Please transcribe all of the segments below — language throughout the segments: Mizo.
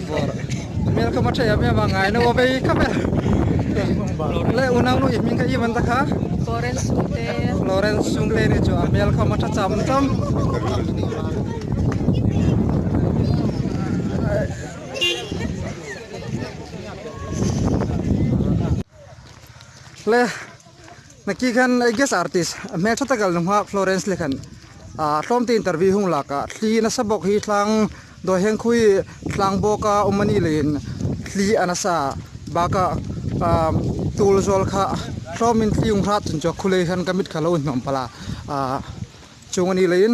Bawr hmel ka hma tha em em a ngai no vei khap e le unau nu i hming ka i man ta kha Florence Sungte Florence Sungte ni chu a hmel ka hma tha cham cham le Naki khan I guess artist a hmel tha taka lungha Florence leh khan ah hlawm te interview hung lak ah hli nasa bawk hi thlang dawi heng khawi thlang bawk a awm anih leh in hli a nasa bak ah um tul zawl kha hlawm in hli hung hlah chun chu a khulei khan ka mit kha lo hnawm pal a ah chung anih leh in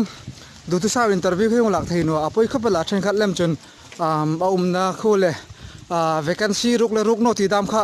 duhtu sa in interview khi hung lak thei nuah a pawi khawp a lah then khat lem chun um a awmna khu leh ah vacancy ruk leh ruk nawh tih dam kha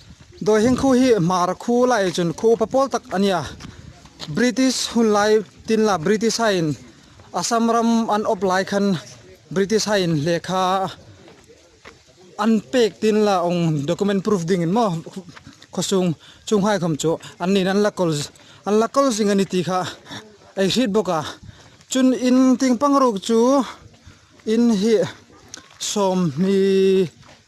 Dawihing khu hi Hmar khu la ei chuan khu upa pawl tak a nia. British hun lai tin la British hain Assam ram an awp lai khan British hain lehkha an pek tin la âwng document proof dingin maw khawsung chung haikhawm chu an niin an la kawl an la kawl zing a ni tih kha ei hriat bawk a. Chun in ting pangruk chu in hi sawmhni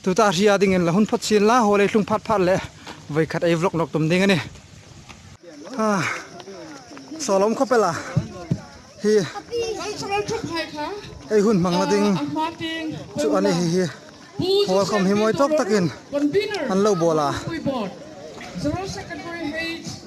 Tuta a hria dingin la hun phawt chil la, haw lei hlung phat phat leh vawi khat ei vlog nawk tum ding a ni. Ha, sawlawm khaw pela hi ei hun hmang na ding chu a ni hi hi. Haw khawm hi mawi tawk takin an lo bawl a.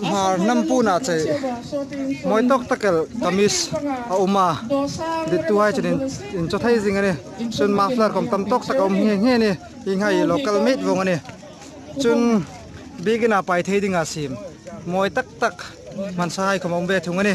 Nghar hnam puna chei mawi tawk tak el kamis a awm a dittu hi chuan in chaw thei zing a ni chuan muffler kawm tam tawk tak a awm nghe nghe a ni heng ho hi local made vawng a ni chuan biakinah pai thei ding ah sim mawi tak tak hmansa hai khawm a awm ve thung a ni.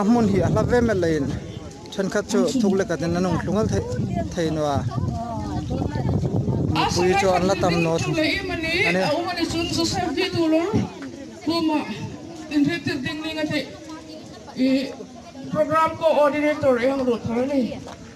A hmun hi a hla ve met loin thenkhat chu thuk leh katin an awm thlu ngal theih thei nu a. Mipui chu an la tam naw thung a ni.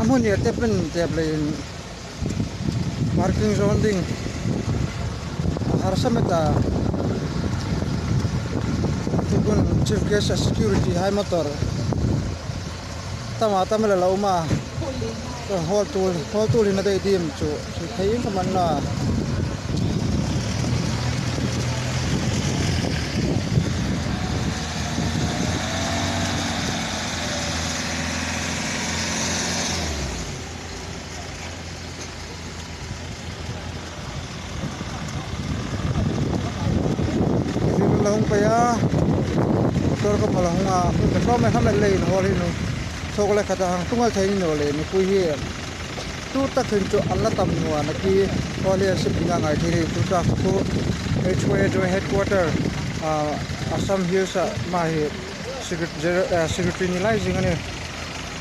a hmun hi a tap in tap leh in-- Parking zawn ding a harsa met a, tihpun chief guest a security hai motor tama tam ila lo awm a, chuan haul tul haul tul in a daih dim chu hri thei em ka man la. Zing an la hawng phei a motor ka phalh a hawng a a hmun ta tlawm a helmet la in haw hi nu chhawk la khat a hang tungal theih nilo leh mipui hi tut tak thin chu an la tam nuan a khi khuan hi an suk ding a ngai theih hi chu truck chu HYDRA headquarter ah assam hills ah hmahi secretary ni lai zing a ni.